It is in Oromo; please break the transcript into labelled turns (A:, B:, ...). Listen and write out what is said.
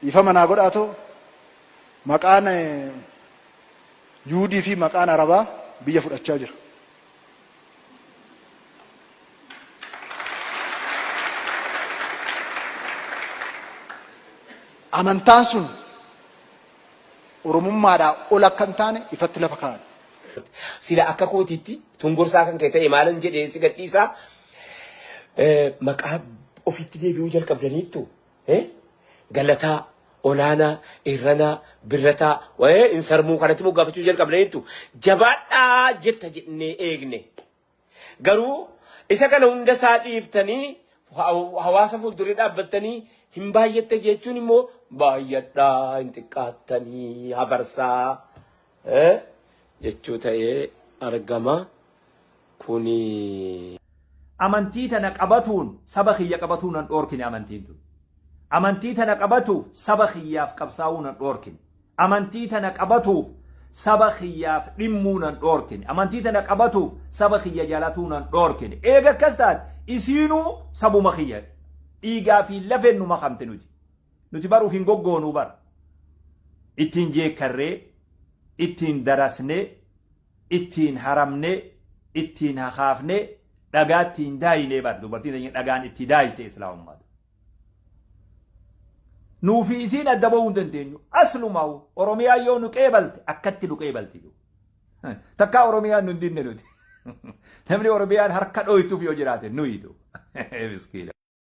A: dhiifama naa godhaatoo maqaan yuudii fi maqaan arabaa biyya fudhachaa jira. Amantaan sun oromummaadhaa ol akka hin taane ifatti lafa kaa'an. Sila
B: akka kootiitti tun gorsaa kan kee ta'e maalan jedhee si gadhiisaa Eh, maqaa ofitti deebi'uu jalqabdaniittu eh, galataa olaanaa irranaa birrataa wa'ee hin sarmuu kanatti moggaafachuu jalqabdaniittu jabaadhaa jetta jennee eegne garuu isa kana hunda isaa dhiiftanii haw- hawaasa fuuldurii dhaabbattanii hin baay'atte jechuun immoo baay'adhaa hin xiqqaattanii hafarsaa Eh? jechuu ta'ee argama. Kuni.
C: Amantii tana qabatuun saba kiyya qabatuu nan dhoorkine amantiin tun. Amantii tana qabatuuf saba kiyyaaf qabsaawuu nan dhoorkine. Amantii tana qabatuuf saba kiyyaaf dhimmuu nan dhoorkine. Amantii tana qabatuuf saba kiyya jalatuu nan dhoorkine. Eega akkas taate isiinuu sabuma kiyya dhiigaa fi lafeen nu makamte nuti. Nuti bar uf hin goggoonuu bar. Ittiin jeekkarree, ittiin darasnee, ittiin haramnee, ittiin hakaafnee, dhagaa ittiin daayinee bar dubartiin teenya dhagaan itti daayite Islaamummaatu. Nuu fi isiin adda ba'uu hin dandeenyu. Aslumaa'u Oromiyaa yoo nu qeebalte akkatti nu qeebalti. Takkaa Oromiyaan nu hin dinne nuti. Namni Oromiyaan harka dhooytuuf yoo jiraate nuyitu. Miskiina.